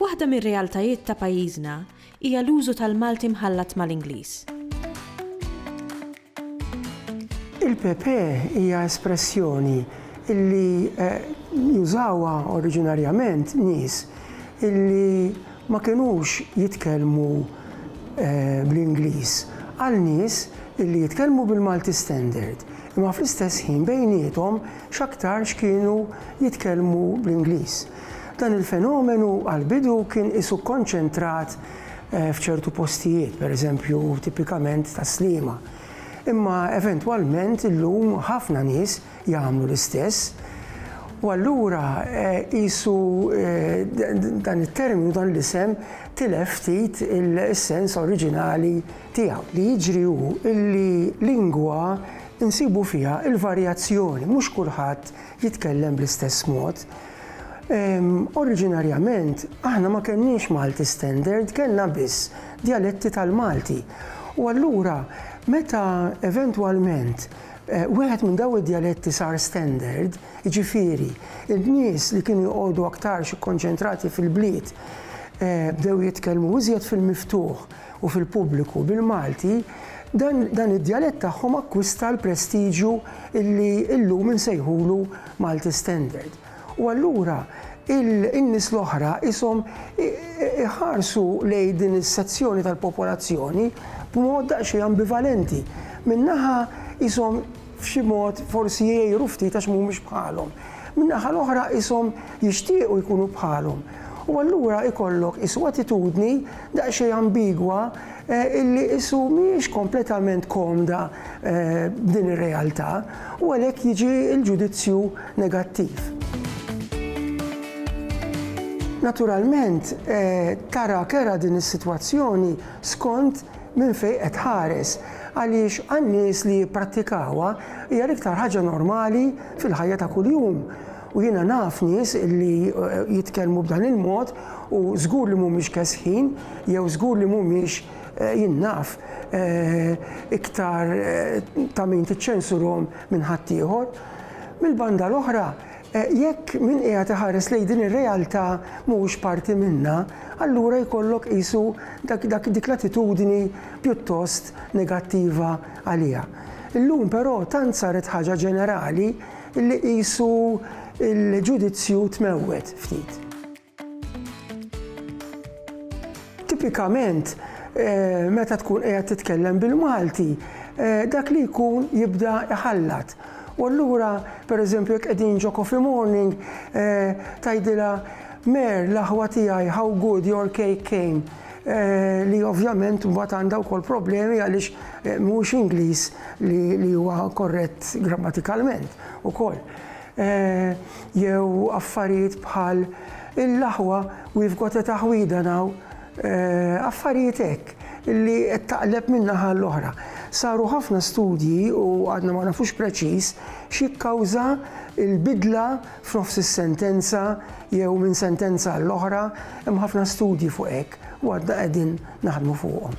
Waħda mir-realtajiet ta' pajjiżna hija l-użu tal-Malti mħallat mal-Ingliż. Il-PP hija espressjoni illi jużawha oriġinarjament nies illi ma kinux jitkellmu bl-Ingliż għal nies illi jitkellmu bil-Malti Standard imma fl-istess ħin bejniethom x'aktarx kienu jitkellmu bl-Ingliż. Dan il-fenomenu għall-bidu kien qisu kkonċentrat eh, f'ċertu postijiet, pereżempju tipikament ta' Sliema. Imma eventwalment illum ħafna nies jagħmlu l-istess. U allura eh, qisu eh, dan it-terminu dan l-isem tilef ftit il-sens oriġinali tiegħu. Li jiġri hu illi lingwa insibu fiha il-varjazzjoni, mhux kulħadd jitkellem bl-istess mod. Oriġinarjament, aħna ma kellniex Malti Standard, kellna biss djaletti tal-Malti. U allura, meta eventwalment eh, wieħed minn daw id-djaletti sar standard, jiġifieri, il-nies li kienu jqogħdu aktarx ikkonċentrati fil-bliet eh, bdew jitkellmu iżjed fil-miftuħ u fil-pubbliku bil-Malti, dan, dan id-djalett tagħhom akkwista l-prestiġju illi illum insejħulu Malti Standard. U allura in-nies l-oħra qishom iħarsu lejn din is-sezzjoni tal-popolazzjoni b'mod daqsxejn ambivalenti. Minn naħa qishom f'xi mod forsi jgħiru ftit għax mhumiex bħalhom. Min-naħa l-oħra qishom jixtiequ jkunu bħalhom. U allura jkollok qisu attitudni daqsxejn ambigwa illi qisu mhijiex kompletament komda b'din ir-realtà. u għalhekk jiġi l-ġudizzju negattiv. Naturalment, tara kerha din is-sitwazzjoni skont minn fejn qed tħares, għaliex għan-nies li jipprattikawha hija l-iktar ħaġa normali fil-ħajja ta' kuljum, u jiena naf nies li jitkellmu b'dan il-mod u żgur li mhumiex kesħin jew żgur li mhumiex Jien naf iktar ta' min tiċċensurhom minn ħaddieħor. Mill-banda l-oħra, jekk min qiegħed iħares lejn din ir-realtà mhuwiex parti minnha, allura jkollok qisu dik l-attitudni pjuttost negattiva għaliha. Illum però tant saret ħaġa ġenerali li qisu l-ġudizzju tmewwet ftit. Tipikament, meta tkun qiegħed titkellem bil-Malti, dak li jkun jibda iħallat. U allura, pereżempju, jekk qegħdin ġo coffee morning, tgħidilha Mer, l-aħwa tiegħi, how good your cake came, li ovvjament mbagħad għandha wkoll problemi għaliex mhuwiex Ingliż li huwa korrett grammatikalment ukoll. jew affarijiet bħal l-aħwa we've got a taħwida now, affarijiet hekk li qed taqleb minn naħa għal oħra. Saru ħafna studji u għadna ma nafux preċiż x'jikkawża l-bidla f'nofs is-sentenza jew minn sentenza għal oħra, hemm ħafna studji fuq hekk u għadna qegħdin naħdmu fuqhom.